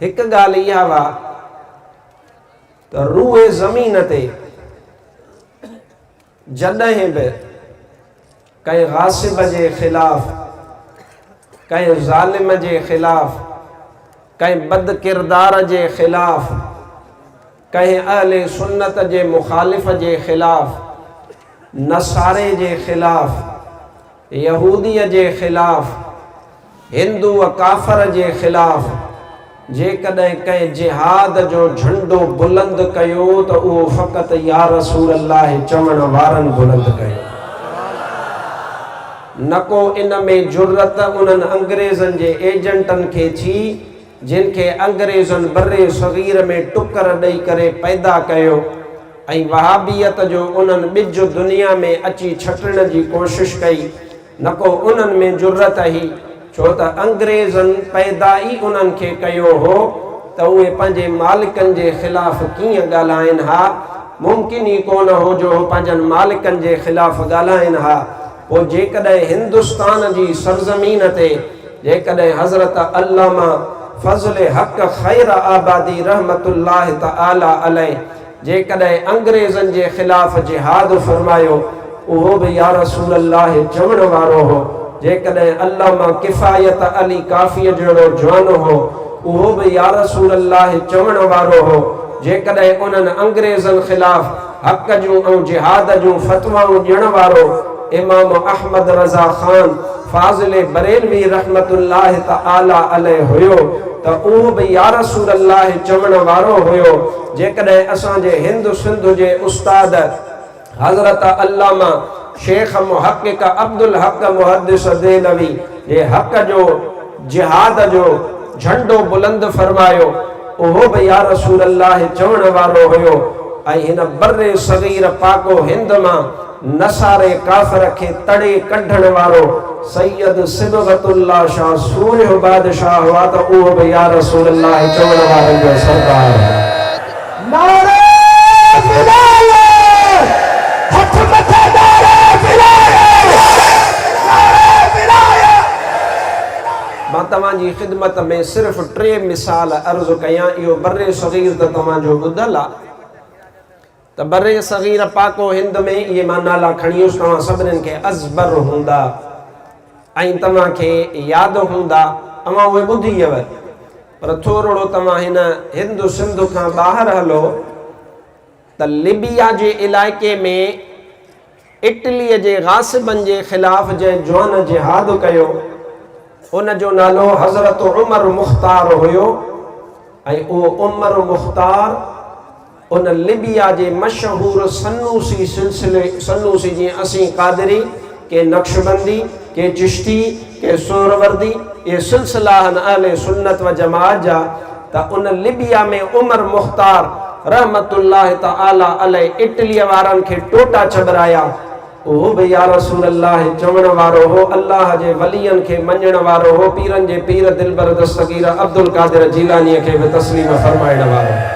هڪ ڳالهه اها هئا ته روئي زمين تي جڏهن به ڪنهن غاصب جي خلاف، ڪنهن ظالم جي خلاف، ڪنهن بدڪردار جي خلاف، ڪنهن اهل سنت جي مخالف جي خلاف، نصاري جي خلاف، يهوديء جي خلاف، هندوء ڪافر جي خلاف جيڪڏهن ڪنهن جهاد جو جهنڊو بلند ڪيو ته اهو فقط يا رسول الله چوڻ وارن بلند ڪيو. نڪو ان ۾ جرئت انهن انگريزن جي ايجنٽن کي ٿي جن کي انگريزن برصغير ۾ ٽڪر ڏئي ڪري پيدا ڪيو ۽ وهابيت جو انهن ٻج دنيا ۾ اچي ڇٽڻ جي ڪوشش ڪئي، نه ڪو انهن ۾ جرئت هئي، ڇو ته انگريزن پيدا ئي انهن کي ڪيو هو ته اهي پنهنجي مالڪن جي خلاف ڪيئن ڳالهائين ها، ممڪن ئي ڪونه هو جو هو پنهنجن مالڪن جي خلاف ڳالهائين ها. پوء جيڪڏهن هندستان جي سرزمين تي جيڪڏهن حضرت علامه فضل حق خير آبادي رحمة الله تعالٰي عليه جيڪڏهن انگريزن جي خلاف جهاد فرمايو اهو به يارسول الله چوڻ وارو هو، جيڪڏهن علامه ڪفايت علي ڪافيء جهڙو جوان هو اهو به يارسول الله چوڻ وارو هو، جيڪڏهن انهن انگريزن خلاف. حق جون ۽ جهاد جون فتوائون ڏيڻ وارو امام احمد رضا خان فاضل بريلوي رحمة الله تعالٰي عليه هيو ته اهو به يارسول الله چوڻ وارو هيو جيڪڏهن اسان جي هند سنڌ جي استاد حضرت علامه شيخ محقق عبدالحق محدث دهلوي جي حق جو جهاد جو جهنڊو بلند فرمايو، اهو به يا رسول الله چوڻ وارو هيو ۽ هن بر صغير پاڪ و هند مان نصاري ڪافر کي تڙي ڪڍڻ وارو سيد صبغت الله شاه سورهيه بادشاهه هئا ته اهو به يا رسول الله چوڻ وارن جو سردار هو. نعري ولايي هٿ مٿي نعري ولايي نعري ولايي. مان توهان جي خدمت ۾ صرف ٽي مثال عرض ڪيان اهو برصغير ته توهان جو ٻڌل آ ته برصغير پاڪو هند ۾ اهي مان نالا کڻي ويس توهان سڀنين کي ازبر هوندا. ۽ توهان کي ياد هوندا اوهان اهي ٻڌي هيو پر ٿورڙو توهان هن هند سنڌ کان ٻاهر هلو ته ليبيا جي علائقي ۾ اٽلي جي غاصبن جي خلاف جنهن جوان جهاد ڪيو ان جو نالو حضرت عمر مختار هيو ۽ اهو عمر مختار هن ليبيا جي مشهور سنوسي سلسلي، سنوسي جيئن اسين قادري، ڪي نقشبندي، ڪي چشتي، ڪي سهروردي، اهي سلسلا آهن اهل سنت و جماعت جا ته ان ليبيا ۾ عمر مختار رحمة الله تعالٰي عليه اٽليء وارن کي ٽوٽا چٻرايا، اهو به يا رسول الله چوڻ وارو هو، الله جي ولين کي مڃڻ وارو هو، پيرن جي پير دلبر دستگير عبدالقادر جيلانيء کي به تسليم فرمائڻ وارو هو.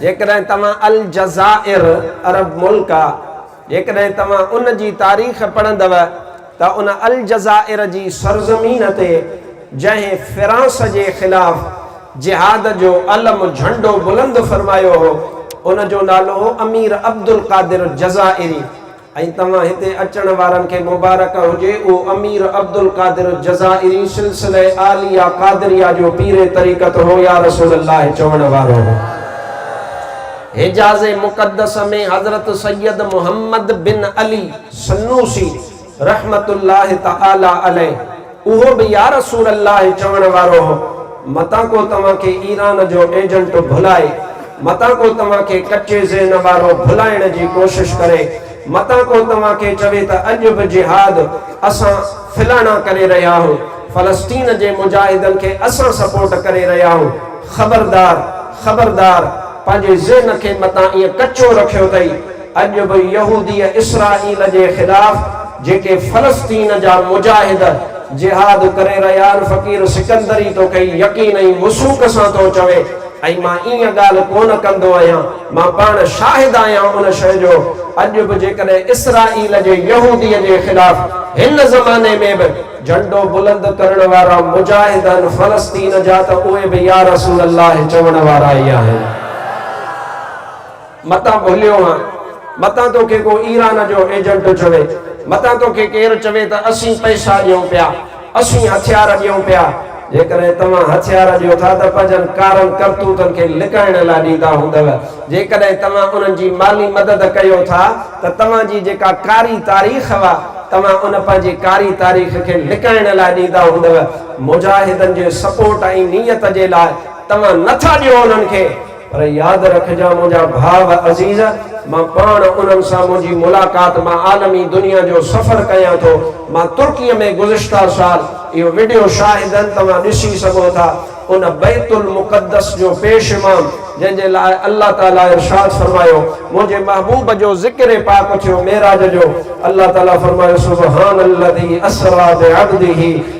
جيڪڏهن توهان الجزائر، عرب ملڪ آ، جيڪڏهن توهان ان جي تاريخ پڙهندؤ، ته ان الجزائر جي سرزمين تي جنهن فرانس جي خلاف جهاد جو علم، جهنڊو، بلند فرمايو هو، ان جو نالو هو امير عبدالقادر الجزائري ۽ توهان هتي اچڻ وارن کي مبارڪ هجي اهو امير عبدالقادر الجزائري سلسله عاليه قادريه جو پير طريقت هو يا رسول الله چوڻ وارو هو. حجاز مقدس ۾ حضرت سيد محمد بن علي. سنوسي رحمة الله تعالٰي عليه اهو به يا رسول الله چوڻ وارو هو، متان ڪو توهان کي ايران جو ايجنٽ ڀلائي، متان ڪو توهان کي ڪچي ذهن وارو ڀلائڻ جي ڪوشش ڪري، متان ڪو توهان کي چوي ته اڄ به جهاد اسان فلاڻا ڪري رهيا آهيون، فلسطين جي مجاهدن کي اسان سپورٽ ڪري رهيا آهيون. خبردار! خبردار! پنهنجي ذهن کي متان ائين ڪچو رکيو اٿئي، اڄ به يهوديء اسرائيل جي خلاف جيڪي فلسطين جا مجاهد جهاد ڪري رهيا آهن فقير سڪندري تو کي يقين ۽ وثوق سان ٿو چوي ۽ مان ايئن ڳالهه ڪونه ڪندو آهيان مان پاڻ شاهد آهيان ان شيء جو اڄ به جيڪڏهن اسرائيل جي يهوديء جي خلاف هن زماني ۾ به جهنڊو بلند ڪرڻ وارا مجاهد آهن فلسطين جا ته اهي به يارسول الله چوڻ وارا ئي آهن. متان ڀليو آن، متان توکي ڪو ايران جو ايجنٽ چوي، متان توکي ڪير چوي ته اسين پئسا ڏيون پيا، اسين هٿيار ڏيون پيا، جيڪڏهن توهان هٿيار ڏيو ٿا ته پنهنجن ڪارن ڪرتوتن کي لڪائڻ لاء ڏيندا هوندؤ، جيڪڏهن توهان انهن جي مالي مدد ڪيو ٿا ته توهان جي جيڪا ڪاري تاريخ هئا، توهان ان پنهنجي ڪاري تاريخ کي لڪائڻ لاء ڏيندا هوندؤ، مجاهدن جي سپورٽ ۽ نيت جي لاء توهان نه ٿا ڏيو انهن کي. پر ياد رکجان منهنجا ڀاء و عزيز، مان پاڻ انهن سان منهنجي ملاقات مان عالمي دنيا جو سفر ڪيان ٿو. مان ترڪيء ۾ گذشته سال، اهو وڊيو شاهدن توهان ڏسي سگهو ٿا، ان بيت المقدس جو پيش امام، جنهن جي لاء الله تعاليٰ ارشاد فرمايو، منهنجي محبوب جو ذڪر پاڪ ٿيو معراج جو، الله تعاليٰ فرمايو، سبحان الذي اسري بعبده.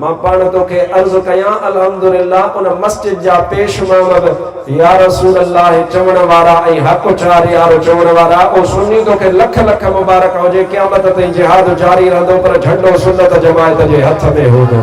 مان پاڻ توکي عرض ڪيان الحمدلله ان مسجد جا پيش امام به يارسول الله چوڻ وارا ۽ حق چار يار چوڻ وارا او سني توکي لک لک مبارڪ هجي قيامت تائين جهاد جاري رهندو پر جهنڊو سنت جماعت جي هٿ ۾ هوندو.